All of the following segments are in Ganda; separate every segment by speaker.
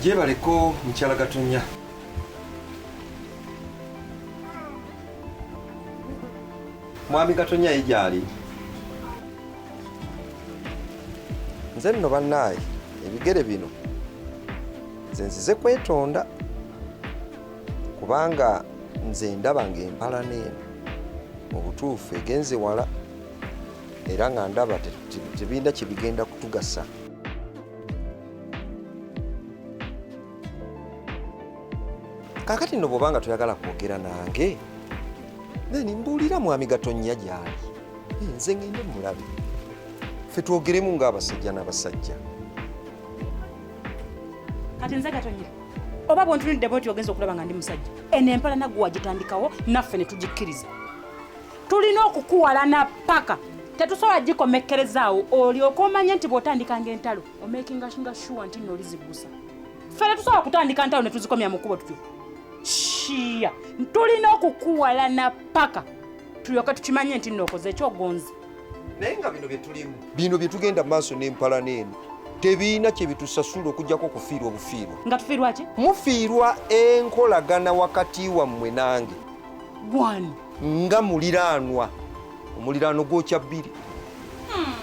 Speaker 1: gyebaleko mukyala gatonya mwami gatonya ye gyali nze nno bannaaye ebigere bino nze nzize kwetonda kubanga nze ndaba ng'empalana eno mu butuufu egenze wala era nga ndaba tebirina kyebigenda kutugasa kakati no bwobanga toyagala kwogera nange then mbuulira mwami gatonnya gyali eh, nze ngende mulabe fe twogeremu ng'abasajja n'abasajja
Speaker 2: kati nze gatonnya oba bwontunudde bwoti ogenza okulaba nga ndi musajja eno empala naggwe wagitandikawo naffe ne tugikkiriza tulina okukuwalana paka tetusobola gikomekkerezaawo olyoka omanye nti bw'otandikanga entalo omakinga nga shuwa nti nno oliziggusa ffe tetusobola kutandika ntalo ne tuzikomya mu kkubo tutyo shiya tulina okukuwalana paka tulyoke tukimanye nti nno okoze ekyogonzi naye nga bino
Speaker 1: byetulimu bino byetugenda mu maaso n'empalana eno tebirina kyebitusasula okujjako okufiirwa obufiirwa nga tufiirwa ki
Speaker 2: mufiirwa
Speaker 1: enkolagana wakati wammwe nange gwani
Speaker 2: nga
Speaker 1: muliraanwa omuliraano gwokya bbiri hmm.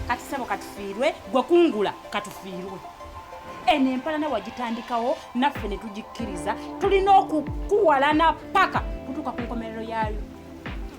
Speaker 1: kati
Speaker 2: sebo katufiirwe gwe kungula katufiirwe eno empalana wagitandikawo naffe ne tugikkiriza tulina okukuwalana paka kutuuka ku nkomerero yaayo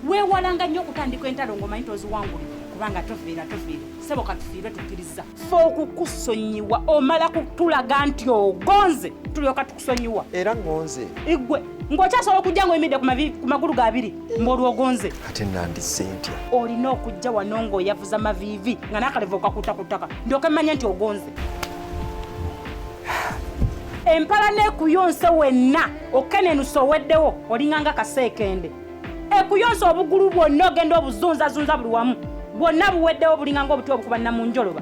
Speaker 2: weewalanga nnyo okutandika entalo ng'omanyi toziwanguli kubanga tofiira tofiira sebo katufiirwe tukkiriza fe okukusonyiwa omala kutulaga nti ogonze tulyoka tu kusonyiwa era ngonze
Speaker 1: igwe
Speaker 2: ng'okyasobola okujja ng'oyimidde ku magulu gabiri ng'olwogonze ate nandisse
Speaker 1: ntya olina okujja
Speaker 2: wano ng'oyavuza maviivi nga n'akalevu okakuta ku ttaka ndyoke mmanya nti ogonze empala n'ekuyonse wenna okenenusa oweddewo olinganga kaseekende ekuyonse obugulu bwonna ogenda obuzunzazunza buli wamu bwonna buweddewo bulinganga obuti obukuba nnamunjoloba